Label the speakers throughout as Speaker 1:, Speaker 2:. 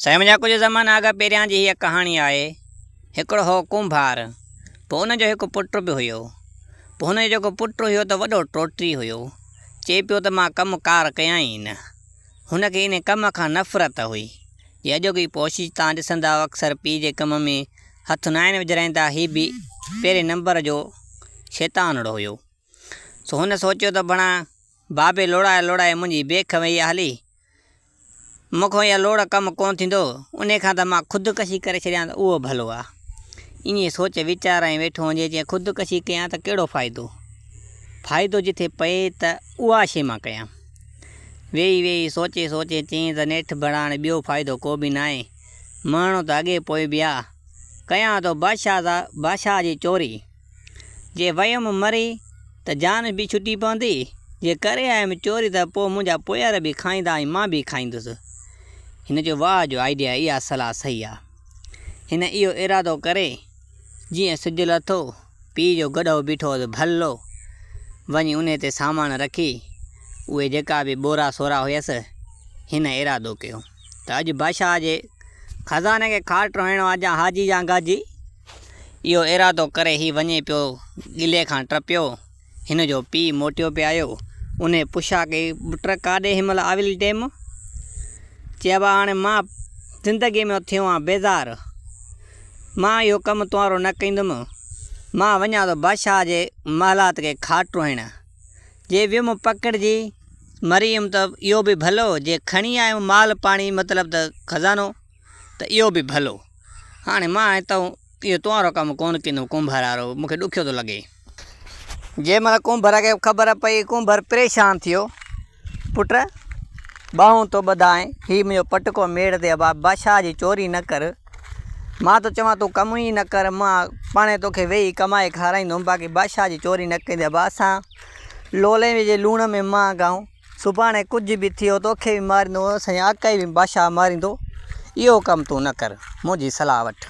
Speaker 1: سائين منهنجا ڪجهه زمانه اڳ پهريان جي هيء ڪهاڻي آهي. هڪڙو هو ڪنڀار. پوء ان جو هڪ پٽ به هيو. پوء هن جو جيڪو پٽ هيو ته وڏو ٽوٽري هيو. چئي پيو ته مان ڪم ڪار ڪيان ئي نه. هن کي انهي ڪم کان نفرت هئي. جي اڄوڪي پوشيج تان ڏسندؤ اڪثر پيء جي ڪم ۾ هٿ ناهن وجهرائيندا هي به پهرين نمبر جو شيطانڙو هيو. سو هن سوچيو ته بڻا بابي لوڙائي لوڙائي منهنجي بيک ويئي آ هلي. مون کان اها لوڙ ڪم ڪونه ٿيندو، انهي کان ته مان خودڪشي ڪري ڇڏيان ته اهو ڀلو آ. ائين سوچ ويچار ۽ ويٺو هونجي جي خودڪشي ڪيان ته ڪهڙو فائدو؟ فائدو جتي پئي ته اها شيء مان ڪيان. ويهي ويهي سوچي سوچي چيائين ته نيٺ ڀڙاڻ ٻيو فائدو ڪو به ناهي. مهڻو ته اڳي پوء به آ. ڪيان ٿو بادشاهه جي چوري. جي ويم مري ته جان به ڇٽي پوندي، جي ڪري آيم چوري ته پوء منهنجا پويار به کائيندا ۽ مان به کائيندس. هن جو واهه جو آئيڊيا اها صلاح صحيح آ. هن اهو ارادو ڪري جيئن سج لٿو، پيء جو گڏهو بيٺو هوس ڀلو وڃي انهي تي سامان رکي اهي جيڪا به ٻورا سورا هيس، هن ارادو ڪيو ته اڄ بادشاهه جي خزاني کي کاٽ هڻڻو آ جا هاجي جا گاجي. اهو ارادو ڪري هي وڃي پيو ڳلي کان ٽپيو. هن جو پيء موٽيو پي آيو. انهيء پڇا ڪئي، پٽ ڪاڏي هن مهل آويل ٽيم؟ چيابا هاڻي مان زندگيء مان ٿيو آهيان بيزار. مان اهو ڪم توهانرو نه ڪندم. مان وڃان ٿو بادشاهه جي محلات کي کاٽ ٽوهڻ. جي ويم پڪڙجي مري ويم ته اهو به ڀلو، جي کڻي آيم مال پاڻي مطلب ته خزانو. ته اهو به ڀلو. هاڻي مان ۽ تون اهو توهانرو ڪم ڪونه ڪندو ڪنڀرارو، مون کي ڏکيو ٿو لڳي. جنهن مهل ڪنڀر کي خبر پئي، ڪنڀر پريشان ٿيو، پٽ! ٻانهون تو ٻڌائين، هي منهنجو پٽڪو ميڙ تي اڀاء بادشاهه جي چوري نه ڪر. مان ٿو چوان تون ڪم ئي نه ڪر، مان پاڻهي توکي ويهي ڪمائي کارائيندوم، باقي بادشاهه جي چوري نه ڪندي اڀاء، اسان لولين جي لوڻ ۾ مانگ آهون. سڀاڻي ڪجهه به ٿيو توکي به ماريندو سائين آڪائي به بادشاهه ماريندو اهو ڪم تون نه ڪر منهنجي صلاح وٺ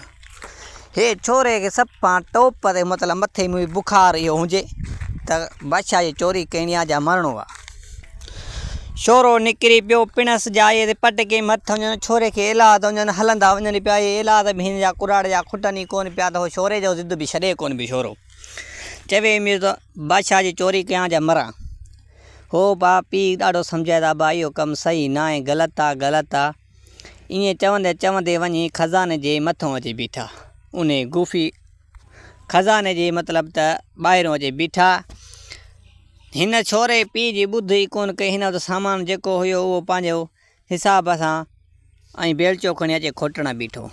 Speaker 1: هي ڇوري کي سڀ پاڻ ٽوپ تي مطلب مٿي ۾ بخار اهو هجي ته بادشاهه جي چوري ڪيڻي آ جا مرڻو آ شورو نڪري پيو پڻس جائي تي پٽ ڪي مٿ وڃن ڇوري کي ايلاد وڃن هلندا وڃن پيا اي ايلاد به هن جا ڪراڙ جا کٽن ئي ڪون پيا ته شوري جو ضد به ڇڏي ڪون به شورو چوي مير ته بادشاهه جي چوري ڪيان جا مران هو با پيء ڏاڍو سمجهائي ته ابا اهو ڪم صحيح ناهي، غلط آ، غلط آ. ائين چوندي چوندي وڃي خزاني جي مٿون اچي بيٺا. انهي گوفي خزاني جي مطلب ته ٻاهرون اچي بيٺا. هن ڇوري پيء جي ٻڌ ئي ڪونه ڪئي. هن وٽ سامان جيڪو هيو اهو پنهنجو حساب سان ۽ بيلچو کڻي اچي کوٽڻ بيٺو.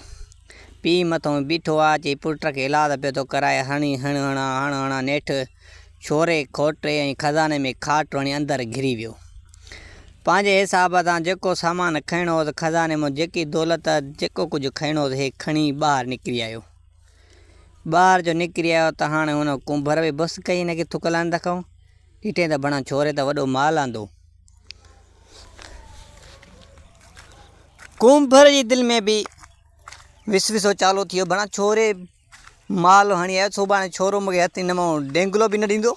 Speaker 1: پيء مٿئون بيٺو آ چئي پٽ کي الاج پيو ٿو ڪرائي هڻي هڻ هڻا هڻ هڻا نيٺ ڇوري کوٽي ۽ خزاني ۾ کاٽ هڻي اندر گهري ويو. پنهنجي حساب سان جيڪو سامان کڻڻو هوس خزاني مون جيڪي دولت جيڪو ڪجهه کڻڻو هوس هي کڻي ٻاهر نڪري آيو. ٻاهر جو نڪري آيو ته هاڻي هن ڪنڀر به بس ڪئي هن کي ٿڪ لاهڻ دکئون ڏٺئين ته بڻا ڇوري ته وڏو مال آندو. ڪنڀر جي دل ۾ به وسوسو چالو ٿيو بڻا ڇوري مال هڻي آيو سڀاڻي ڇورو مونکي هٿ هن مون ڊينگلو به نه ڏيندو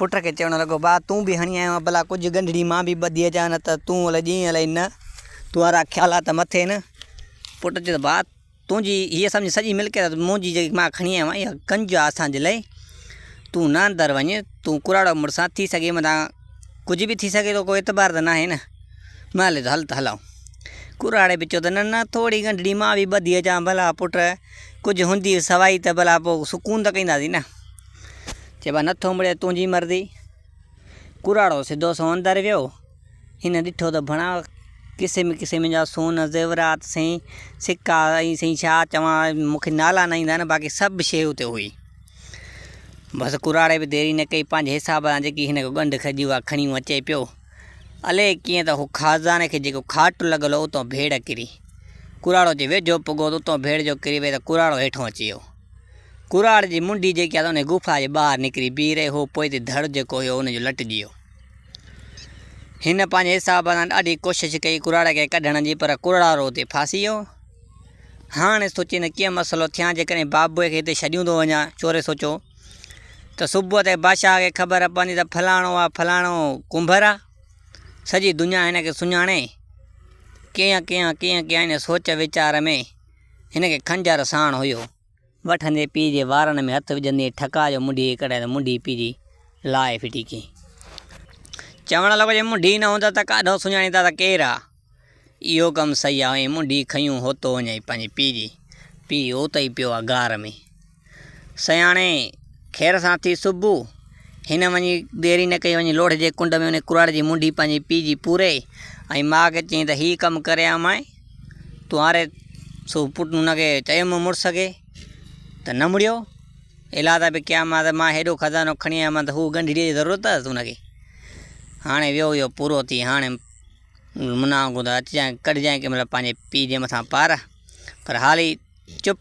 Speaker 1: پٽ کي چوڻ لڳو با تون به هڻي آيو آهين ڀلا ڪجهه گنڍڙي مان به ٻڌي اچان نه ته تون الائي ڏينهن الائي نه تون وارا خيالات مٿي نه پٽ چيو با تنهنجي هيء سمجهه سڄي ملڪيت ته منهنجي جيڪي مان کڻي آيو آهيان اها ڪنج آهي اسان جي لاء تون نه اندر وڃ تون ڪراڙو مڙس آهين ٿي سگهي متان ڪجهه به ٿي سگهي ٿو ڪو اعتبار ته ناهي نه نه هلي ٿو هل ته هلئون ڪراڙي به چيو ته نه نه ٿوري ڳنڍڙي مان به ٻڌي اچان ڀلا پٽ ڪجهه هوندي سوائي ته ڀلا پوء سڪون ته ڪنداسين نه چيو نه ٿو مڙي تنهنجي مرضي ڪراڙو سڌو سئو اندر ويو. هن ڏٺو ته ڀڻا قسم قسم جا سون، زيورات، سئي سڪا ۽ سئي ڇا چوان مون کي نالا نه ايندا آهن باقي سڀ شيء اتي هئي. بس ڪراڙي به ديري نه ڪئي پنهنجي حساب سان جيڪي هن کي ڳنڍ کڄي هئا کڻي هون اچي پيو. الئي ڪيئن ته هو خازاني کي جيڪو کاٽ لڳل هو اتان ڀيڙ ڪري ڪراڙو جي ويجهو پڳو ته اتان ڀيڙ جو ڪري ويئي ته ڪراڙو هيٺان اچي ويو. ڪراڙ جي منڍي جيڪي آهي ته انهيء غفا جي ٻاهر نڪري بيهي رهي، هو پوئتي ڌڙ جيڪو هيو ان جو لٽجي ويو. هن پنهنجي حساب سان ڏاڍي ڪوشش ڪئي ڪراڙ کي ڪڍڻ جي پر ڪراڙ اتي ڦاسي ويو. هاڻ سوچي نه ڪيئن مسئلو ٿيان، جيڪڏهن بابوء کي هتي ڇڏيون ٿو وڃان، چوري سوچيو، ته صبح تائين بادشاهه کي خبر پوندي ته فلاڻو آ فلاڻو ڪنڀر آ، سڄي دنيا هن کي سڃاڻي. ڪيئن ڪيان ڪيئن ڪيان ان سوچ ويچار ۾ هن کي خنجر ساڻ هيو. وٺندي پيء جي وارن ۾ هٿ وجهندي ٺڪاء جو منڍي ڪڍيائين ته منڍي پيء جي لاهي ڦٽي ڪيائين. چوڻ لڳو جي منڍي نه هوندس ته ڪاڍو سڃاڻيندا ته ڪير آ؟ اهو ڪم صحيح آ. ائين منڍي کنيون هوتو وڃائين پنهنجي پيء جي. پيء اوتو ئي پيو آ غار ۾. سياڻي، خير سان ٿي صبح. هن وڃي ديري نه ڪئي، وڃي لوڙهه جي ڪنڊ ۾ انهي ڪراڙ جي منڍي پنهنجي پيء جي پوري ۽ ماء کي چيائين ته هي ڪم ڪري آ مائي تون هاري سو پٽ هن کي چيو مون مڙس کي ته نه مڙيو الادا به ڪيا مان ته مان هيڏو خزانو کڻي آيو مان ته هو ڳنڍيء جي ضرورت هئس هن کي هاڻي ويو ويو پورو ٿي هاڻي منا وانگون ته اچجانء ڪڍجانء ڪنهن مهل پنهنجي پيء جي مٿان پار پر هالي چپ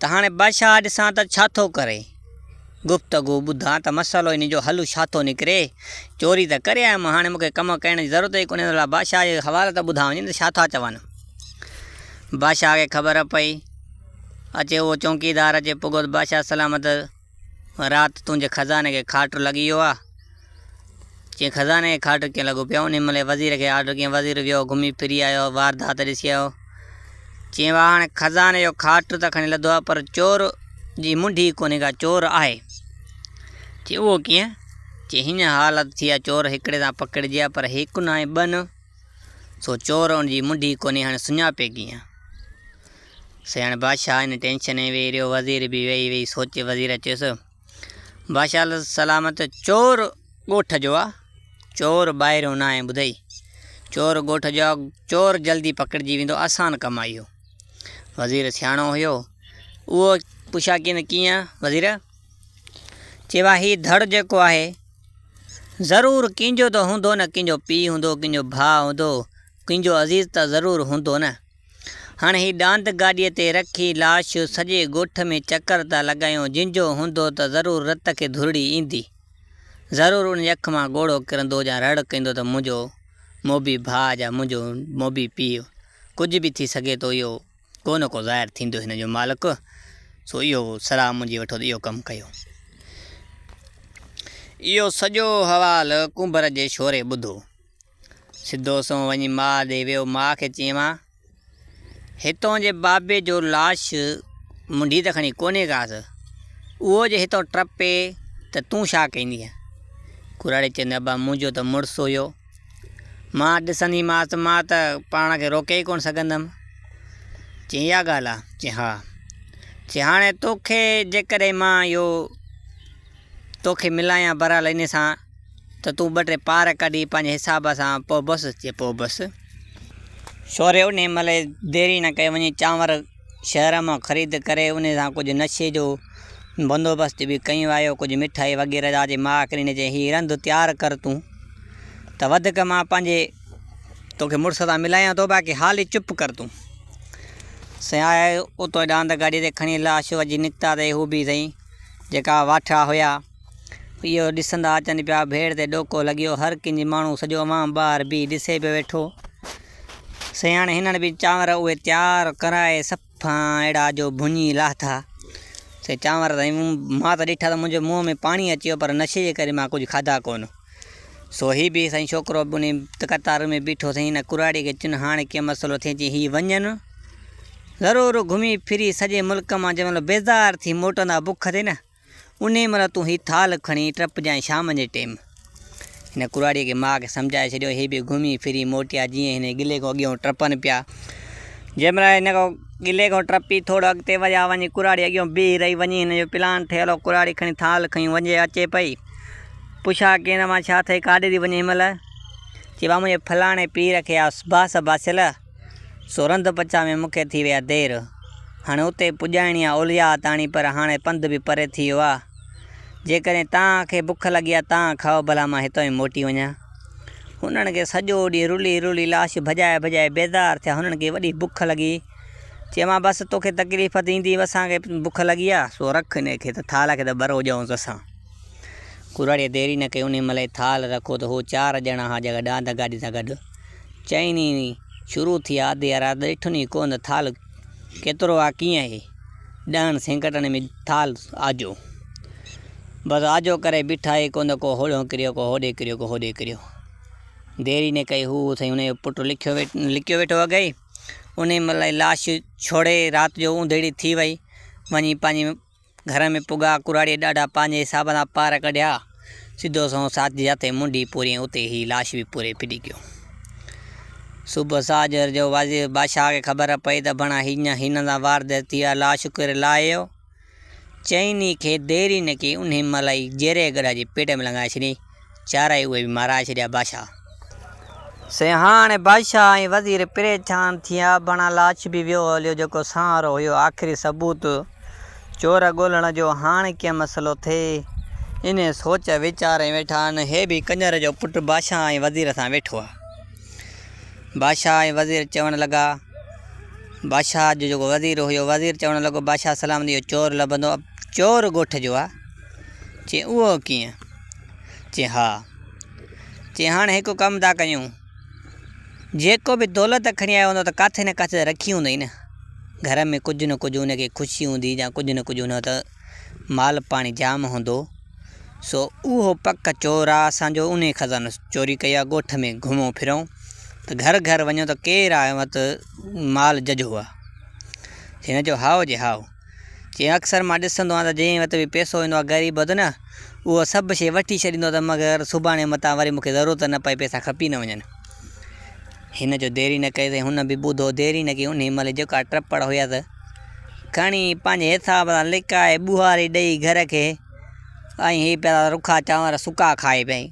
Speaker 1: ته هاڻي بادشاهه ڏسان ته ڇا ٿو ڪري؟ گفتگو ٻڌان ته مسئلو ان جو حل ڇا ٿو نڪري؟ چوري ته ڪري آيم، هاڻي مون کي ڪم ڪرڻ جي ضرورت ئي ڪونهي، ان لاء بادشاهه جي حوالي ته ٻڌا وڃن ته ڇا ٿا چون؟ بادشاهه کي خبر پئي اچي، اهو چونڪيدار اچي پڳو ته بادشاهه سلامت. رات تنهنجي خزاني کي کاٽ لڳي ويو آ. چيائين خزاني کي کاٽ ڪيئن لڳو پيو آ؟ انهيء مهل وزير کي آرڊر ڪيائين. وزير ويو، گهمي ڦري آيو، واردات ڏسي آيو. چيائين واهه هاڻي خزاني جو کاٽ ته کڻي لڌو آ، پر چور جي منڍي ئي ڪونهي ڪا چور آهي. چيائين اهو ڪيئن؟ چيائين هينئن حالت ٿي آ، چور هڪڙي سان پڪڙجي آ، پر هڪ ناهي ٻه نه، سو چور ان جي منڍي ئي ڪونهي، هاڻي سڃاپي ڪيئن؟ سياڻ بادشاهه ان ٽينشن ۾ ويهي رهيو، وزير به ويهي ويهي سوچي، وزير چيس، بادشاهه السلامت چور ڳوٺ جو آ، چور ٻاهريون ناهي ٻڌئي، چور ڳوٺ جو آ، چور جلدي پڪڙجي ويندو، آسان ڪم آ اهو. وزير سياڻو هيو، اهو پڇا ڪين ته ڪيئن وزير؟ چيو آ هي ڌڙ جيڪو آهي، ضرور ڪنهن جو ته هوندو نه، ڪنهن جو پيء هوندو، ڪنهن جو ڀاء هوندو، ڪنهن جو عزيز ته ضرور هوندو نه. هاڻ هي ڏاند گاڏيء تي رکي لاش سڄي ڳوٺ ۾ چڪر ٿا لڳايون، جنجهو هوندو ته ضرور رت کي ڌرڙي ايندي. ضرور ان جي اک مان ڳوڙهو ڪرندو يا رڙ ڪندو ته منهنجو موڀي ڀاء يا منهنجو موڀي پيء. ڪجهه به ٿي سگهي ٿو اهو ڪو نه ڪو ظاهر ٿيندو هن جو مالڪ، سو اهو سراء منهنجي وٺو ته اهو ڪم ڪيو. اهو سڄو حوال ڪنڀر جي شوري ٻڌو. سڌو سنئون وڃي ماء ڏي ويو. ماء کي چيوان، هتون جي بابي جو لاش منڍي ته کڻي ڪونهي ڪاس، اهو جي هتون ٽپي ته تون ڇا ڪيندينء؟ ڪراڙي چيندي، ابا منهنجو ته مڙس هيو. مان ڏسنديمانس ته مان ته پاڻ کي روڪي ئي ڪونه سگهندم. چيائين، اها ڳالهه آ؟ چيائين، ها. چيائين، هاڻي توکي جيڪڏهن مان اهو توکي ملايان برحال انهي سان ته تون ٻه ٽي پار ڪڍي پنهنجي حساب سان پوء بس چي پوء بس. شوري انهيء مهل دير ئي نه ڪئي وڃي چانور شهر مان خريد ڪري انهيء سان ڪجهه نشي جو بندوبست به ڪيون آيو ڪجهه مٺائي وغيره جا جي ماء ڪريني چيائين هي رند تيار ڪر تون ته وڌڪ مان پنهنجي توکي مڙس سان ملايان ٿو باقي حالي چپ ڪر تون سائين آيا اتو ڏاند گاڏي تي کڻي لاش وجهي نڪتا تي هو به سائين جيڪا واٺڙا هيا. اهو ڏسندا اچن پيا، ڀيڙ تي ڏوڪو لڳيو، هر ڪنج ماڻهو سڄو عوام ٻاهر بيهي ڏسي پيو ويٺو. سياڻي هنن به چانور اهي تيار ڪرائي صفان اهڙا جو ڀڃي لاٿا. سي چانور ته مون مان ته ڏٺا ته منهنجي منهن ۾ پاڻي اچي ويو پر نشي جي ڪري مان ڪجهه کاڌا ڪونه. سو هي به سائين ڇوڪرو به انهي قطار ۾ بيٺو سائين هن ڪراڙي کي چيون هاڻي ڪيئن مسئلو ٿئي چيائين هي وڃن ضرور گهمي ڦري سڄي ملڪ مان جنهن مهل بيزار ٿي موٽندا بک تي نه انهيء مهل تون هي ٿالهه کڻي ٽپجانء شام جي ٽيم. هن ڪراڙيء کي ماء کي سمجهائي ڇڏيو. هي به گهمي ڦري موٽيا جيئن هن جي ڳلي کان اڳيئون ٽپن پيا. جنهن مهل هن ڳلي کان ٽپي ٿورو اڳتي وڌيا وڃي ڪراڙي اڳيئون بيهي رهي. وڃي هن جو پلان ٺهيل هو. ڪراڙي کڻي ٿالهه کڻي وڃي اچي پئي. پڇا ڪين مان ڇا ٿئي ڪاڏي ٿي وڃين هن مهل. چئي مان منهنجي فلاڻي پير کي آس باس باسيل. سورنڌ پچاء ۾ مون کي ٿي وئي آ دير. هاڻي اتي پڄائڻي آ اولياء تاڻي پر هاڻي پنڌ به پري ٿي ويو آ. جيڪڏهن توهان کي بک لڳي آ توهان کائو ڀلا مان هتان ئي موٽي وڃان. هنن کي سڄو ڏينهن رلي رلي لاش ڀڄائي ڀڄائي بيزار ٿيا هنن کي وڏي بک لڳي. چيومانس بس توکي تڪليف ته ايندي اسان کي بک لڳي آ سو رک انهي کي ته ٿالهه کي ته ٻرو ڄئونس اسان. ڪراڙيء ديري نه ڪئي انهي مهل ئي ٿالهه رکو ته هو چار ڄڻا ها جيڪا ڏاند گاڏي سان گڏ. چئين ئي ني شروع ٿي آ دي ارا ڏٺن ئي ڪو نه ٿال ڪيترو آ ڪيئن هي ڏهن سينڪٽن ۾ ٿال آجو بس آجو ڪري بيٺا هي ڪو نه ڪو هوڏهون ڪريو ڪو هوڏي ڪريو ڪو هوڏي ڪريو ديري نه ڪئي هو سائين انهي جو پٽ لکيو لکيو ويٺو اگهي انهي ملائي لاش ڇوڙي رات جو اوندهيڙي ٿي وئي وڃي پنهنجي گهر ۾ پڳا ڪراڙي ڏاڍا پنهنجي حساب سان پار ڪڍيا. سڌو سنئون ساچ جي هٿين منڍي پوري ۽ اتي هي لاش به پوري ڦڏي گيو. صبح ساجهر جو وزير بادشاهه کي خبر پئي ته بڻا هينئن هنن سان وارديت ٿي آهي، لاش ڪير لاهيو؟ چئني کي دير ئي نه ڪئي، انهي مهل ئي جيري گڏهه جي پيٽ ۾ لنگهائي ڇڏيائين. چارئي اهي به مارائي ڇڏيا بادشاهه. سين هاڻي بادشاهه ۽ وزير پريشان ٿيا بڻا لاش به ويو هليو جيڪو سانحرو هيو آخري ثبوت چور ڳولڻ جو هاڻ ڪيئن مسئلو ٿئي انهي سوچ ويچار ۾ ويٺا آهن هي به ڪنجر جو پٽ بادشاهه ۽ وزير سان ويٺو آهي بادشاهه ۽ وزير چوڻ لڳا بادشاهه جو جيڪو وزير هيو وزير چوڻ لڳو بادشاهه سلامت اهو چور لڀندو چور ڳوٺ جو آهي. چيائين، اهو ڪيئن؟ چيائين، ها. چيائين، هاڻي هڪ ڪم ٿا ڪريون، جيڪو به دولت کڻي آيو هوندو ته ڪاٿي نه ڪاٿي ته رکي هوندئي نه، گهر ۾ ڪجهه نه ڪجهه ان کي خوشي هوندي يا ڪجهه نه ڪجهه هوندو ته مال پاڻي جام هوندو، سو اهو پڪ چور آ اسان جو انهي خزانو چوري ڪيو آ، ڳوٺ ۾ گهمون ڦرون ته گهر گهر وڃون ته ڪير آ اوهان وٽ مال ججهو آ؟ هن چيو، هائو جي هائو. جيئن اڪثر مان ڏسندو آهيان ته جنهن وٽ به پئسو هوندو آهي غريب وٽ نه اهو سڀ شيء وٺي ڇڏيندو ته مگر سڀاڻي متان وري مون کي ضرورت نه پئي پئسا کپي نه وڃن. هن جو ديري نه ڪئي ته هن به ٻڌو ديري نه ڪئي انهي مهل جيڪا ٽپڙ هيس کڻي پنهنجي حساب سان لڪائي ٻوهاري ڏئي گهر کي ۽ هي پيا رکا چانور سڪا کائي پئي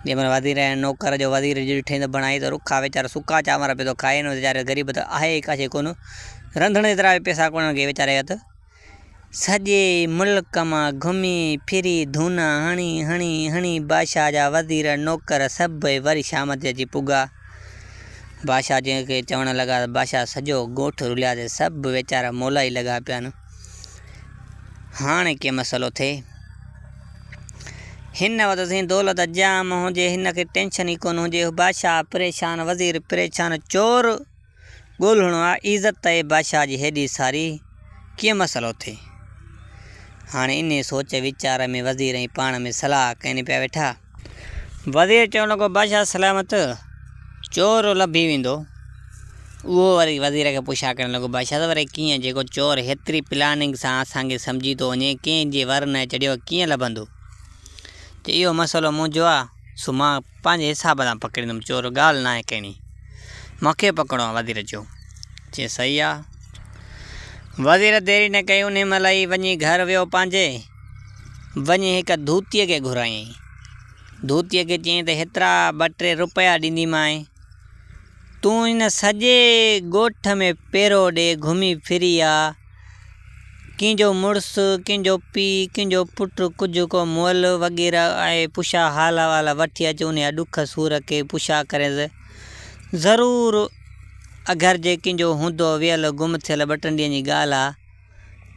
Speaker 1: جنهن مهل وزير ۽ نوڪر جو وزير جي ڏٺئي ته بڻائي ته رکا ويچارو سڪا چانور پيو ٿو کائي هن ويچاري غريب ته آهي ئي ڪاشي ڪونه. رنڌڻ ايترا به پئسا ڪونه هئا ڪي ويچاري اٿ سڄي ملڪ مان گهمي ڦري ڌونا هڻي هڻي هڻي بادشاهه جا وزير نوڪر سڀئي وري شام تي اچي پڳا بادشاهه جن کي چوڻ لڳا ته بادشاهه سڄو ڳوٺ رلياسي سڀ ويچارا مولائي لڳا پيا آهن هاڻي ڪي مسئلو ٿئي هن وٽ سين دولت جام هجي هن کي ٽينشن ئي ڪونه هجي بادشاهه پريشان وزير پريشان چور ڳولهڻو آ عزت تئي بادشاهه جي هيڏي ساري ڪيئن مسئلو ٿي. هاڻي انهيء سوچ ويچار ۾ وزير ۽ پاڻ ۾ صلاح ڪين پيا ويٺا. وزير چوڻ لڳو بادشاهه سلامت، چور لڀي ويندو. اهو وري وزير کي پڇا ڪرڻ لڳو بادشاهه ته وري ڪيئن جيڪو چور هيتري پلاننگ سان اسان کي سمجهي ٿو وڃي ڪنهن جي ور نه چڙهيو ڪيئن لڀندو. چي اهو مسئلو منهنجو آ سو مان پنهنجي حساب سان پڪڙيندم چور ڳالهه ناهي ڪهڙي مونکي پڪڙڻو آهي وزير چيو چي صحيح آ وزير ديري نه ڪئي انهي مهل ئي وڃي گهر ويو پنهنجي وڃي هڪ ڌوتي کي گهرايائين ڌوتي کي چيائين ته هيترا ٻه ٽي روپيا ڏينديمانء تون هن سڄي ڳوٺ ۾ پيرو ڏي گهمي ڦري آ ڪنهن جو مڙس، ڪنهن جو پيء، ڪنهن جو پٽ، ڪجهه ڪو مئل وغيره آهي، پڇا حال احوال وٺي اچ انهيء ڏک سور کي پڇا ڪرينس. ضرور اگر جي ڪنهن جو هوندو ويل گم ٿيل ٻه ٽن ڏينهن جي ڳالهه آ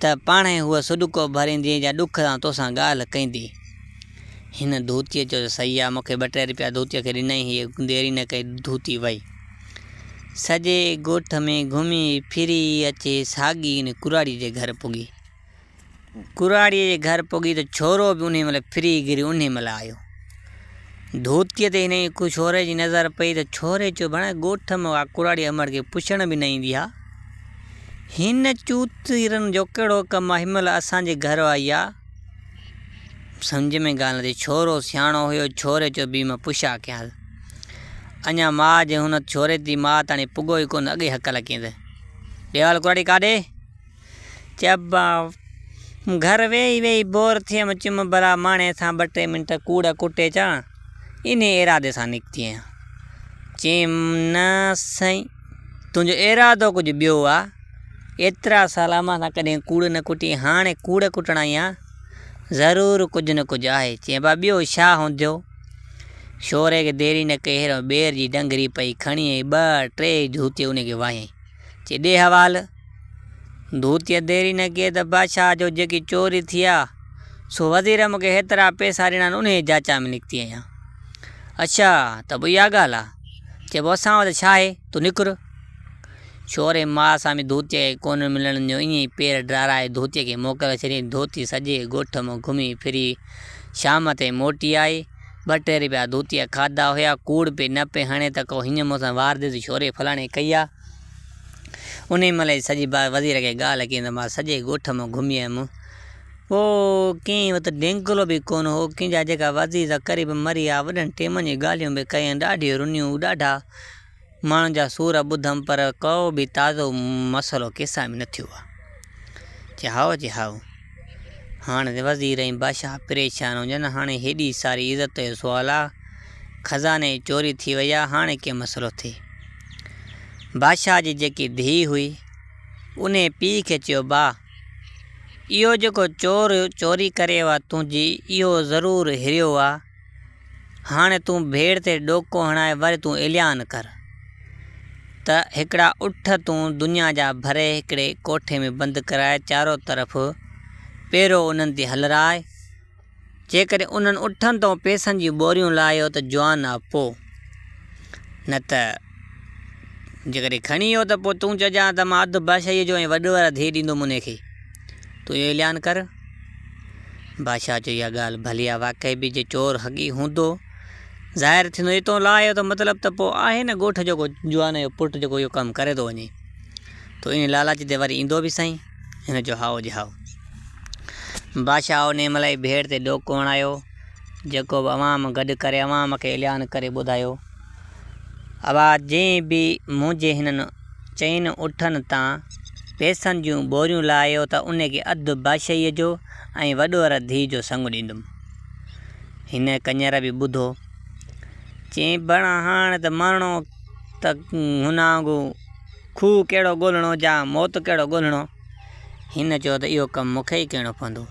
Speaker 1: ته پاڻهي هوء سڏڪو ڀريندينء جا ڏک سان توسان ڳالهه ڪيندي. هن ڌوتيء چيو ته سهي آ، مون کي ٻه ٽي رپيا ڌوتيء کي ڏنائين، هيء دير ئي نه ڪئي ڌوتي وئي. سڄي ڳوٺ ۾ گهمي ڦري اچي ساڳي ان ڪراڙيء جي گهر پڳي. ڪراڙيء جي گهر پڳي ته ڇورو به انهيء مهل ڦري گهري انهيء مهل آيو. ڌوتيء تي هنئي ڇوري جي نظر پئي ته ڇوري چيو، ڀيڻ ڳوٺ ۾ اها ڪراڙي امڙ کي پڇڻ به نه ايندي آ. هن چوتيرن جو ڪهڙو ڪم آ، هن مهل اسان جي گهر آئي آ. سمجهه ۾ ڳالهه نه ٿي. ڇورو سياڻو هيو، ڇوري چيو، بيهه مان پڇا ڪيانس. اڃا ماء جي هن ڇوري تي ماء تاڻي پڳو ئي ڪونه اڳئي هڪ لڪيندي ڏيوال ڪراڙي ڪاڏي چئبا گهر ويهي ويهي بور ٿيم چم برا ماڻي سان ٻه ٽي منٽ ڪوڙ ڪٽي اچان انهي ارادي سان نڪتي آهيان چيم نه سائين تنهنجو ارادو ڪجهه ٻيو آهي ايترا سال امان سان ڪڏهن ڪوڙ نه ڪٽي هاڻي ڪوڙ ڪٽڻ آئي آهيان ضرور ڪجهه نه ڪجهه آهي چئبا ٻيو ڇا هونديو شوري کي ديري نه ڪئي هيرو ٻير جي ڊنگري پئي کڻي ۽ ٻه ٽي ڌوتي ان کي واهيائين چي ڏي حوال ڌوتيء ديري نه ڪئي ته بادشاهه جو جيڪي چوري ٿي آ سو وزير مون کي هيترا پئسا ڏنا آهن انهيء جاچا ۾ نڪتي آهيان اڇا ته پوء اها ڳالهه آ چئبو اسان وٽ ڇا آهي تون نڪر ڇوري ماء سان به ڌوتيء کي ڪونه ملڻ ڏنو. ائين ئي پير ڊاراهي ڌوتيء کي موڪل ڇڏيائين. ڌوتي سڄي ڳوٺ مان گهمي ڦري شام تائين موٽي آئي. ٻه ٽي رپيا ڌوتيء کاڌا هيا. ڪوڙ پئي نه پئي هڻي ته ڪو هينئن مونسان واردي ته ڇوري فلاڻي ڪئي آ. انهيء مهل ئي سڄي بار وزير کي ڳالهه ڪيائين ته مان سڄي ڳوٺ مان گهمي آيم. پوء ڪنهن وٽ ڊينگلو به ڪونه هو. ڪنهن جا جيڪا وزير ته قريب مري آ. وڏن ٽيمن جون ڳالهيون به ڪيائين. ڏاڍيون رنيون، ڏاڍا. ماڻهن جا سور ٻڌم پر ڪو به تازو مسئلو ڪيسان ۾ نه ٿيو آ. چي هائو چي هائو. هاڻ وزير ۽ بادشاهه پريشان هجن هاڻي هيڏي ساري عزت جو سوال آ. خزاني چوري ٿي وئي آ هاڻي ڪيئن مسئلو ٿئي. بادشاهه جي جيڪي ڌيء هئي انهي پيء کي چيو با اهو جيڪو چور چوري ڪري آ تنهنجي اهو ضرور هريو آ. هاڻي تون ڀيڙ تي ڏوڪو هڻائي ور تون اعلان ڪر ته هڪڙا اٺ تون دنيا جا ڀري هڪڙي ڪوٺي ۾ بند ڪرائي چارو طرف پيرو انهن تي هلرائي. جيڪڏهن انهن اٺن تان پئسن جون ٻوريون لاهيو ته جوان آ پو نه ته. جيڪڏهن کڻي ويو ته پوء تون چئجان ته مان اڌ بادشاهيء جو ۽ وڏڙ وارا ڌيء ڏيندوم انهيء کي. تون اهو اعلان ڪر. بادشاهه چيو، اها ڳالهه ڀلي آهي، واقعي به جي چور حقيقي هوندو ظاهر ٿيندو جي تون لاء اهو ته مطلب ته پوء آهي نه ڳوٺ جو ڪو جوان جو پٽ جيڪو اهو ڪم ڪري ٿو وڃي. تون انهيء لالچ تي وري ايندو به سائين؟ هن چيو، هائو جي هائو. بادشاهه انهيء مهل ئي ڀيڙ تي ڏوڪ هڻايو، جيڪو به عوام گڏ ڪري عوام کي اعلان ڪري ٻڌايو. اوهان جنهن به منهنجي هنن چئن اٺن تان پئسن جون ٻوريون لاهيو ته ان کي اڌ بادشاهيء جو ۽ وڏو ر ڌيء جو سڱ ڏيندم. هن ڪڃر به ٻڌو. چيائين، بڻ هاڻ ته مرڻو ته هن آنگو کوهه ڪهڙو ڳولهڻو جا موت ڪهڙو ڳولهڻو. هن چيو ته اهو ڪم مون کي ئي ڪرڻو پوندو.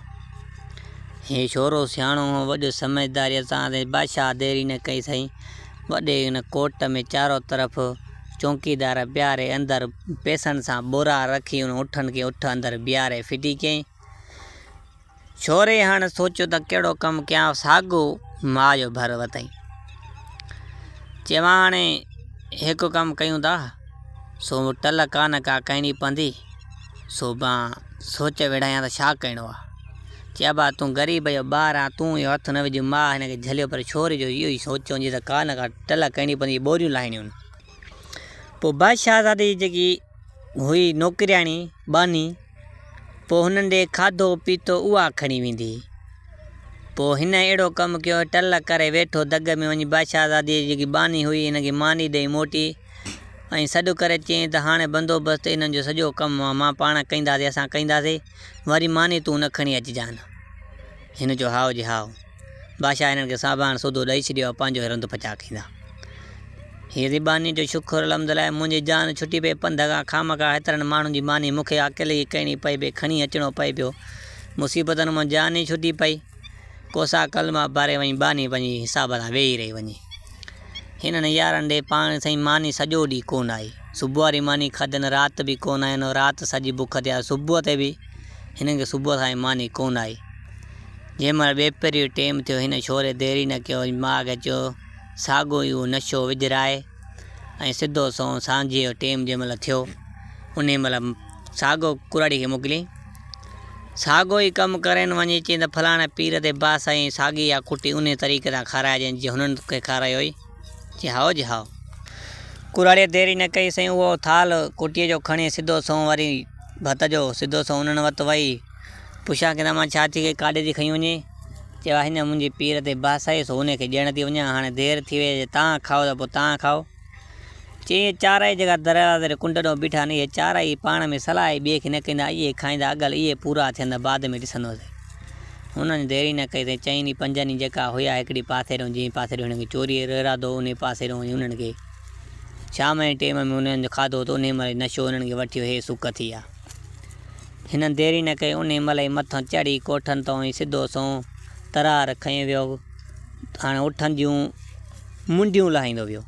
Speaker 1: هي شورو سياڻو هو، وڏو سمجهداريء سان سائين بادشاهه دير ئي نه ڪئي سائين. وڏي ان ڪوٽ ۾ چارو طرف چونڪيدار بيهاري اندر پئسن سان ٻورا رکي ان اٺن کي اٺ اندر بيهاري ڦٽي ڪيائين. ڇوري هاڻ سوچيو ته ڪهڙو ڪم ڪيان ساڳو ماء جو ڀر وتائين. چي ماء هاڻي هڪ ڪم ڪيون ٿا سو ٽل ڪانه ڪا ڪهڻي پوندي سو مان سوچ ويڙهايان ته ڇا ڪهڻو آ. چي ابا تون غريب جو ٻار آن تون اهو هٿ نه وجهه ماء هن کي جهليو پر ڇوري جو اهو ئي سوچ هوندي ته ڪانه ڪا ٽل ڪهڻي پوندي ٻوريون لاهڻيون هن. پوء بادشاهزادي جي جيڪي هئي نوڪرياڻي ٻانهي، پوء هنن ڏي کاڌو پيتو اها کڻي ويندي. پوء هن اهڙو ڪم ڪيو، ٽل ڪري ويٺو دڳ ۾ وڃي بادشاهزاديء جي جيڪي ٻانهي هئي، هن کي ماني ڏئي موٽي ۽ سڏ ڪري چيائين ته هاڻي بندوبست انهن جو سڄو ڪم مان پاڻ ڪنداسين، اسان ڪنداسين، وري ماني تون نه کڻي اچجان. هن چيو هائو جي هائو. بادشاهه هنن کي ساڀاڻ سوڌو ڏئي ڇڏيو ۽ پنهنجو هي رند پچاء ڪيندا. هي ري ٻانهي جو شڪر الحمدلله منهنجي جان ڇٽي پئي پنڌ کان، خامخواهه هيترن ماڻهن جي ماني مون کي اڪيلي ئي ڪرڻي پئي پئي کڻي اچڻو پئي پيو. مصيبتن مان جان ئي ڇٽي پئي. ڪوسا ڪلما باري وڃي ٻانهي پنهنجي حساب سان ويهي رهي وڃي. هنن يارن ڏي پاڻ سائين ماني سڄو ڏينهن ڪونه آئي. صبح واري ماني کاڌين رات به ڪونه آئين رات سڄي بک تي آئي صبح تي به هنن کي صبح سان ئي ماني ڪونه آئي. جنهن مهل ٻئي پهري جو ٽيم ٿيو، هن ڇوري دير ئي نه ڪيو ۽ ماء کي چيو، ساڳيو ئي اهو نشو وجهرائي ۽ سڌو سنئون سانجهيء جو ٽيم جنهن مهل ٿيو، انهيء مهل ساڳيو ڪراڙيء کي موڪليائين. ساڳيو ئي ڪم ڪرين وڃي چئين ته فلاڻي پير تي باس ۽ ساڳي اها ڪٽي انهيء طريقي سان کارائجين جيئن هنن کي کارايو هئي. جي هائو جي هائو. ڪراڙيء دير ئي نه ڪئي سائين اهو ٿالهه ڪوٽيء جو کڻي سڌو سنئون واري ڀت جو سڌو سنئون انهن وٽ وئي پڇيان ڪي رحمان ڇا ٿي ڪئي ڪاڏي ٿي کنئي وڃين؟ چيو آهي نه منهنجي پير تي باس آهي سو انهي کي ڏيڻ ٿي وڃان هاڻي دير ٿي وئي آهي جي تان کائو ته پوء تان کائو. چيائين، اهي چارئي جيڪا دروازي ڏي ڪنڊ ڏانهن بيٺا آهن، اهي چارئي ئي پاڻ ۾ صلاح ئي ٻئي کي نه ڪندا، اهي ئي کائيندا، اڳل اهي پورا ٿين ته بعد ۾ ڏسندوسين. هنن ديري نه ڪئي، تائين چئني پنجن ئي جيڪا هيا هڪڙي پاسي ڏانهن، جنهن پاسي ڏانهن هنن کي چوريء جو ارادو هو، انهيء پاسي ڏانهن وڃي هنن کي شام جي ٽيم ۾ هنن جو کاڌو ته انهيء مهل ئي نشو هنن کي وٺيو، هي سڪ ٿي آ. هنن ديري نه ڪئي، انهيء مهل ئي مٿان چڙهي ڪوٺن تان ئي سڌو سنئون ترار کنئي ويو، هاڻي اٺن جون منڊيون لاهيندو ويو.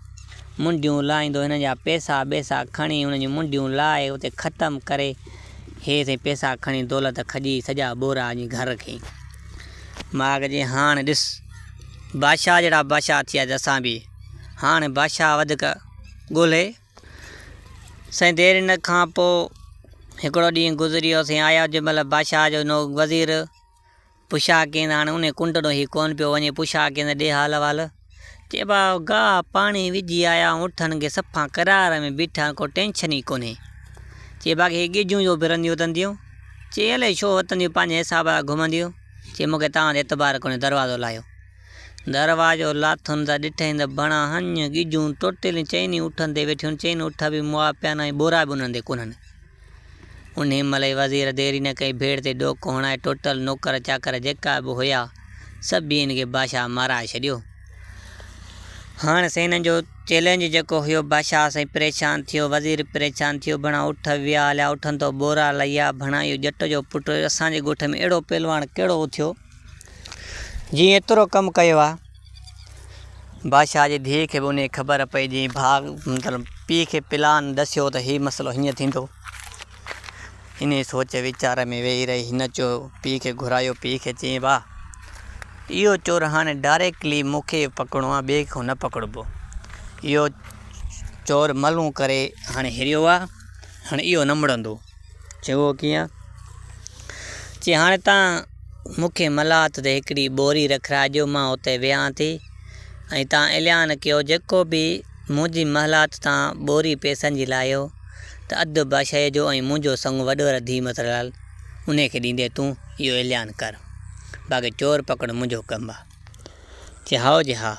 Speaker 1: منڊيون لاهيندو هن جا پيسا ٻيسا کڻي ان جون منڊيون لاهي اتي ختم ڪري هي سائين پيسا کڻي دولت کڄي سڄا ٻورا اڃي گهر کين ماڳ جي هاڻ ڏس بادشاهه جهڙا بادشاهه ٿيا ته اسان به هاڻ بادشاهه وڌيڪ ڳولهي سائين دير ان کان پوء هڪڙو ڏينهن گذريو سائين آيا جنهن مهل بادشاهه جو نو وزير پڇا ڪيندا هاڻي انهي ڪنڊ ڏانهن هي ڪونه پيو وڃي، پڇا ڪيندا ڏي حال احوال. چئبا گاهه پاڻي وجهي آيا آهيون، اٺن کي صفا قرار ۾ بيٺا آهيون، ڪو ٽينشن ئي ڪونهي. چئي باقي هي ڳجهون جو ڦرنديون وتنديون. چئي الائي ڇو وتنديون پنهنجي حساب سان گهمنديون. چئي مون کي توهان تي اعتبار ڪونهي دروازو لاهيو. دروازو لاٿم ته ڏٺائين ته بڻا هنج ڳجهون ٽوٽيل چئني اٺن تي ويٺيون آهن، چئني اٺ به موئا پيا آهن ۽ ٻورا به انهن تي ڪونهن. انهيء مهل ئي وزير دير ئي نه ڪئي، ڀيڙ تي ڏوڪ هڻائي ٽوٽل نوڪر چاڪر جيڪا به هيا، سڀيئن کي بادشاهه مارائي ڇڏيو. هاڻ سائين هنن جو چئلينج جيڪو هيو، بادشاهه سائين پريشان ٿيو، وزير پريشان ٿيو، ڀڻا اٺ ويا هليا، اٺن تو ٻورا لهيا، ڀڻا اهو ڄٽ جو پٽ اسان جي ڳوٺ ۾ اهڙو پهلواڻ ڪهڙو اٿيو، جنهن ايترو ڪم ڪيو آ. بادشاهه جي ڌيء کي به انهيء خبر پئي جنهن ڀاء مطلب پيء کي پلان ڏسيو ته هي مسئلو هيئن ٿيندو. انهيء سوچ ويچار ۾ ويهي رهي هن چو پيء کي گهرايو پيء کي چيائين ڀاء اهو چور هاڻي ڊائريڪٽلي مون کي پڪڙڻو آ ٻئي کي نه پڪڙبو اهو چور ملهون ڪري هاڻي هريو آ هاڻي اهو نه مڙندو. چيو، اهو ڪيئن؟ چي، هاڻي تان مون کي ملاحت تي هڪڙي ٻوري رکرائجو، مان اتي ويهان ٿي ۽ تان اعلان ڪيو، جيڪو به منهنجي ملاحت تان ٻوري پئسن جي لاهيو ته اڌ بادشاهيء جو ۽ منهنجو سڱو وڏو رڌي مترلال انهيء کي ڏيندي تون اهو اعلان ڪر، باقي چور پڪڙڻ منهنجو ڪم آ. چي هائو جي ها.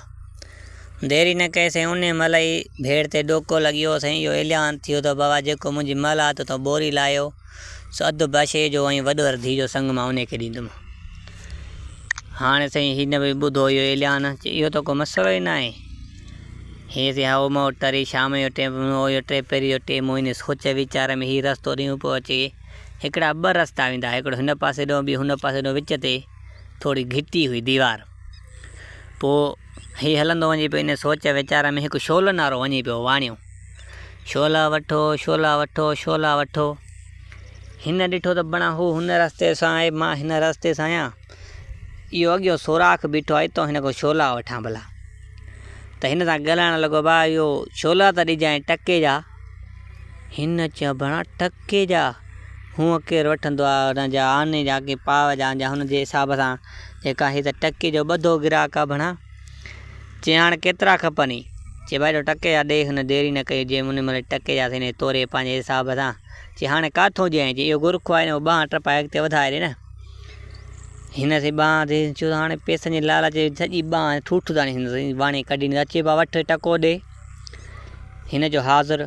Speaker 1: دير ئي نه ڪئي سائين انهيء مهل ئي ڀيڙ تي ڏوڪو لڳي ويو سائين اهو اعلان ٿيو ته بابا جيڪو منهنجي مهل هٿ تون ٻوري لاهيو سو اڌ بشي جو ۽ وڏو ردي جو سڱ مان انهيء کي ڏيندم. هاڻي سائين هن به ٻڌو اهو اعلان چي اهو ته ڪو مسئلو ئي ناهي. هيء سي هائو مئو ٽري شام جو ٽيم هو اهو ٽي پهري جو ٽيم هو هن سوچ ويچار ۾ هي رستو ڏينهون پيو اچي هڪڙا ٻه رستا ويندا هڪڙو هن پاسي ڏانهن ٻيو هن پاسي ڏانهن وچ تي ٿوري گهٽي هئي ديوار. پوء هي هلندو وڃي پيو ان سوچ ويچار ۾ هڪ شعلن وارو وڃي پيو واڻيو. شعلا وٺو، شعلا وٺو، شعلا وٺو. هن ڏٺو ته بڻا هو هن رستي سان آهي مان هن رستي سان آهيان. اهو اڳيون سوراخ بيٺو آهي اتان هن کان شعلا وٺان ڀلا. ته هن سان ڳالهائڻ لڳو ڀاء اهو شعلا ته ڏجانء ٽڪي جا. هن چيو بڻا ٽڪ ڪي جا هونء ڪير وٺندو آ هن جا آني جا ڪي پاء جا جا هن جي حساب سان جيڪا هي ته ٽڪي جو ٻڌو گراهڪ آ ڀڻا چي هاڻ ڪيترا کپني چي ڀائي ٽڪي جا ڏي هن ديري نه ڪئي جي مني ملي ٽڪي جا سيني توري پنهنجي حساب سان چي هاڻي ڪاٿو ڏيانء چي اهو گورکو آ هو ٻانهن ٽپائي اڳتي وڌائي ڏي نه هن سي ٻانهن تي چيو هاڻي پئسن جي لالچ سڄي ٻانهن ٺوٺ تائين هن سي واڻي ڪڍي ڏني چي ڀا وٺ ٽڪو ڏي هن جو حاضر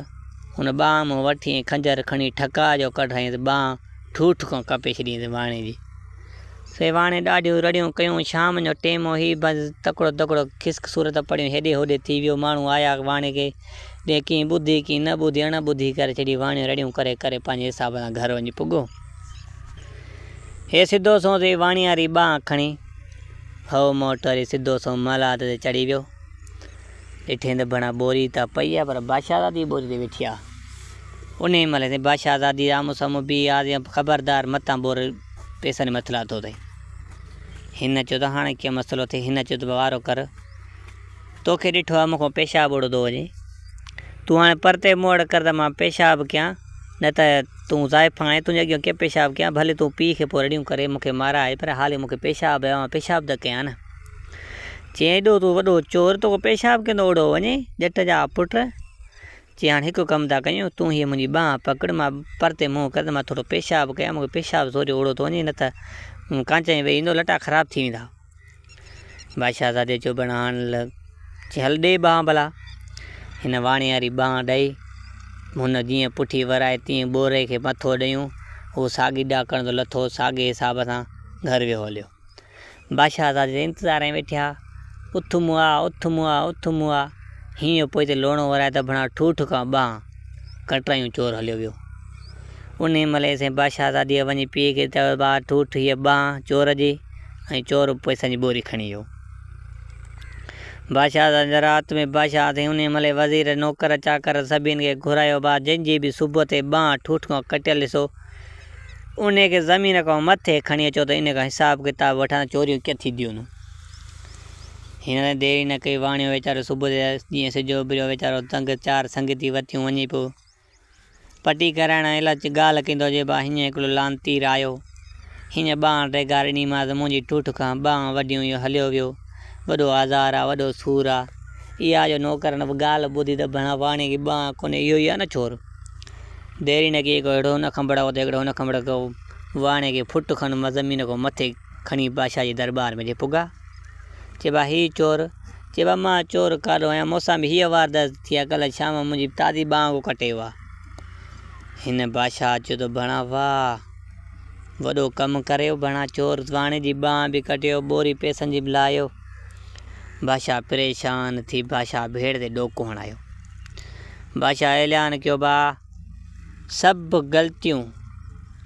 Speaker 1: هن ٻانهن مون وٺي ۽ خنجر کڻي ٺڪاء جو ڪڍرائينس ٻانهن ٺوٺ کان ڪپي ڇڏينس واڻي جي. سي واڻي ڏاڍيون رڙيون ڪيون، شام جو ٽيم هو هي بنس تڪڙو تڪڙو خسڪ صورت پڙهيون هيڏي هوڏي ٿي ويو، ماڻهو آيا واڻي کي ڏي ڪئين ٻڌي ڪئين نه ٻڌي اڻ ٻڌي ڪري ڇڏي واڻي رڙيون ڪري ڪري پنهنجي حساب سان گهر وڃي پڳو. هي سڌو سنئون ٿي واڻياري ٻانهن کڻي هئو موٽ وري سڌو سنئون محلات تي چڙهي ويو. ڏٺين ته بڻا ٻوري ته پئي آ پر بادشاهزادي ٻوري تي ويٺي آ. انهيء مهل سائين بادشاهزادي رامو سامهون بيهي آرزي ڪئي، خبردار متان ٻور پئسن جي مٿي لاٿو اٿئي. هن چيو ته هاڻي ڪيئن مسئلو ٿئي؟ هن چيو ته وارو ڪر، توکي ڏٺو آ مون کان پيشاب اڙيو ٿو وڃي، تون هاڻي پرتي مون وٽ ڪر ته مان پيشاب ڪيان، نه ته تون زائفان آهين، تنهنجي اڳيان ڪيئن پيشاب ڪيان، ڀلي تون پيء کي پوء رڙيون ڪري مون کي مارائي پر هالي مون کي پيشاب آيو آ، مان پيشاب ته ڪيان نه. چيائين ايڏو تون وڏو چور تو کان پيشاب ڪيندو اوڙو وڃي ڄٽ جا پٽ. چيائين هاڻي هڪ ڪم ٿا ڪيون تون هيء منهنجي ٻانهن پڪڙ مان پرتي منهن ڪر ته مان ٿورو پيشاب ڪيان مون کي پيشاب سوريو اوڙو ٿو وڃي نه ته مون ڪانچائين ويهي ايندو لٽا خراب ٿي ويندا. بادشاهه زادي چيو ڀيڻ هاڻ له چيائين هل ڏي ٻانهن ڀلا. هن واڻي واري ٻانهن ڏئي هن جيئن پٺي ورائي تيئن ٻوري کي مٿو ڏيون اهو ساڳي ڏاڪڻ تي لٿو ساڳي حساب سان گهر ويو هليو. بادشاهه آزاديء جي انتظار ۾ ويٺي ها. اٿ مون آ، اٿ مون آ، اٿ مون آ. هينئن جو پوئتي لوڻو ورائي ته ڀڻا ٺوٺ کان ٻانهن ڪٽرايون چور هليو ويو. انهيء مهل ايسين بادشاهه آزاديء وڃي پيء کي چيو ته آ ٺوٺ هيء ٻانهن چور جي ۽ چور پئسن جي ٻوري کڻي ويو. بادشاهه آزاديء جي رات ۾ بادشاهه اٿي انهيء مهل وزير، نوڪر، چاڪر سڀيئن کي گهرايو آ جنهن جي به صبح تي ٻانهن ٺوٺ کان ڪٽيل ڏسو، ان کي زمين کان مٿي کڻي اچو ته ان کان حساب ڪتاب وٺان ته چوريون ڪيئن ٿينديون. هن تائين دير ئي نه ڪئي، واڻيو ويچارو صبح جيئن سج اڀريو ويچارو تنگ چار سنگتي وتيون وڃي پيو پٽي ڪرائڻ ۽ الاچ ڳالهه ڪندو هجي ڀا هينئن هڪڙو لعنتي رايو هينئن ٻانهن ڊيگهار ڏنيمانس منهنجي ٺٺ کان ٻانهن وڍيون اهو هليو ويو وڏو آزار آ وڏو سور آ اها جو نوڪرن به ڳالهه ٻڌي ته ڀڻا واڻيي کي ٻانهن ڪونهي اهو ئي آ نه ڇور. ديرينه ڪي ڪو هيڙهو نه کنڀڙا ڪو ديڳڙو نه کنڀڙا ڪو واڻي ڪي ڦٽ کن مان زمين ڪو مٿي کڻي بادشاهه جي درٻار ۾ جي پڳا چيبا هي چور چيبا مان چور ڪاڏو آهيان موسان به هيء واردات ٿي آهي ڪلهه شام منهنجي تازي ٻانهه ڪو ڪٽي ويو آهي هن بادشاهه چيو ته ڀڻا واهه وڏو ڪم ڪريو ڀڻا چور واڻي جي ٻانهه به ڪٽيو ٻوري پئسن جي به لاهيو بادشاهه پريشان ٿي بادشاهه ڀيڙ تي ڏوڪو هڻايو بادشاهه اعلان ڪيو ڀاء! سڀ غلطيون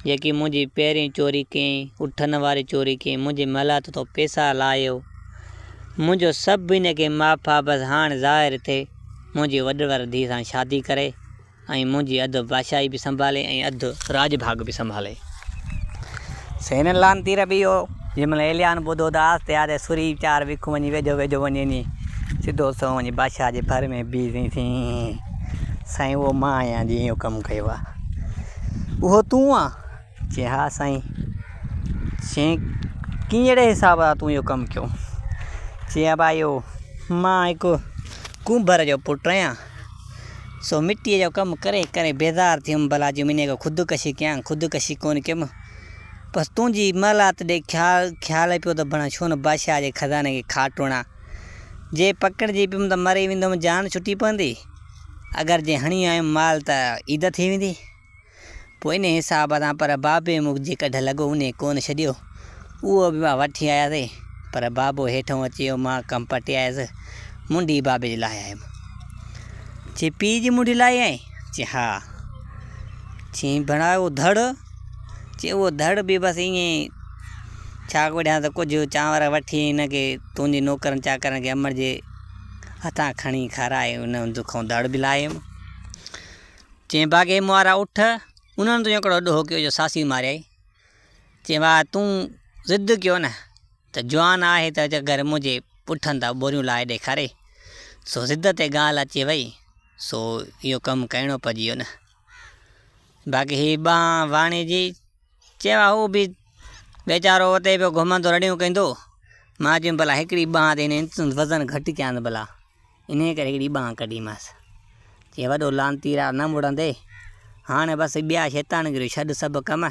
Speaker 1: جيڪي منهنجي پهرين چوري ڪيئين، اٺن واري چوري ڪيئين، منهنجي ملهت تون پيسا لاهيو، منهنجو سڀ هن کي معاف آ، بس هاڻ ظاهر ٿي منهنجي وڏڙر ڌيء سان شادي ڪري ۽ منهنجي اڌ بادشاهي به سنڀالي ۽ اڌ راڄ ڀاڳ به سنڀالي. سين لان تير ٻيو، جنهن مهل ايليان ٻڌو ته آس تيار ۽ سوري چار ويکون وڃي ويجهو ويجهو وڃي ني، سڌو سنئون وڃي بادشاهه جي ڀر ۾ بيهي سائين سين، سائين اهو مان آهيان جنهن اهو ڪم ڪيو آهي. اهو تون آن؟ چيائين ها سائين. چيائين ڪهڙي حساب سان تون اهو ڪم ڪيو؟ چيائين ڀائيو مان هڪ ڪنڀر جو پٽ آهيان، سو مٽيء جو ڪم ڪري ڪري بيزار ٿيم، ڀلا جو منهن ڪو خودڪشي ڪيان، خودڪشي ڪونه ڪيم، بس تنهنجي محلات ڏي خيال پيو ته بڻان ڇونه بادشاهه جي خزاني کي کاٽ هڻان، جي پڪڙجي پيم ته مري ويندم جان ڇٽي پوندي، اگر جي هڻي آيم مال ته عيد ٿي ويندي. پوء انهيء حساب سان پر بابي مون کي جيڪا ڍل لڳو انهيء ڪونه ڇڏيو. اهو به مان وٺي آياسين، پر بابو هيٺئون اچي ويو. مان ڪم پٽي آيس. منڍي بابي جي لاهي آيم. چي پيء جي منڍي لاهي آئين؟ چي ها. چيائين ڀيڻا اهو ڌڙ؟ چي اهو ڌڙ به بس ائين ئي ڇا ڪريان ته ڪجهه چانور وٺي هن کي تنهنجي نوڪرن چاڪرن کي امڙ جي هٿان کڻي کارائي انهيء کان ڌڙ به لاهي آيم. چيم باغي موارا اٺ، انهن تون هڪڙو ڏوهه ڪيو جو ساسي ماريائي. چيم وا تون ضد ڪيو نه ته جوان آهي ته گهر منهنجي پٺن تان ٻوريون لاهي ڏيکاري. سو ضد تي ڳالهه اچي وئي سو اهو ڪم ڪرڻو پئجي ويو نه. باقي هي ٻانهن واڻي جي، چيم وا هو به ويچارو اتي پيو گهمندو رڙيون ڪندو. مان چيم ڀلا هڪڙي ٻانهن تي هن وزن گهٽ ڪيانس ڀلا. انهيء ڪري هڪڙي ٻانهن ڪڍيمانس. چيائين، وڏو لعنتي راء نه مڙندي. هاڻ بس ٻيا شيطانگريون ڇڏ سڀ ڪم.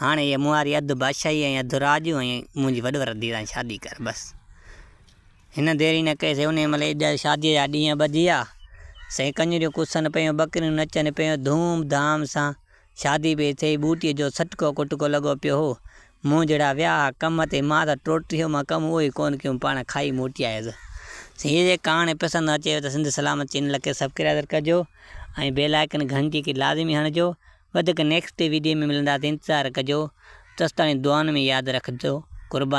Speaker 1: هاڻي هيء مون واري اڌ بادشاهي ۽ اڌ راڄ ۽ منهنجي وڏور ڌيء سان شادي ڪر بس. هن دير ئي نه ڪئي سي انهيء مهل ئي شاديء جا ڏينهن ٻڌيا. سائين ڪڃريون ڪسن پيون، ٻڪريون نچن پيون، ڌوم ڌام سان شادي پئي ٿئي، ٻوٽيء جو سٽڪو ڪٽڪو لڳو پيو هو. مون جهڙا ويا ها ڪم تي، مان ته ٽوٽريء مان ڪم اهو ئي ڪونه ڪيم، پاڻ کائي موٽيائيس. سائين جي ڪهاڻي پسند اچيو ته سنڌ سلامت چينل کي سبڪرائزر ڪجو ۽ بيل آئڪن گهنٽي کي لازمي هڻجو. وڌيڪ نيڪسٽ ڊي ويڊيو ۾ ملنداسين انتظار ڪجو. تستاڻي دعائن ۾ ياد رکجو. قربان.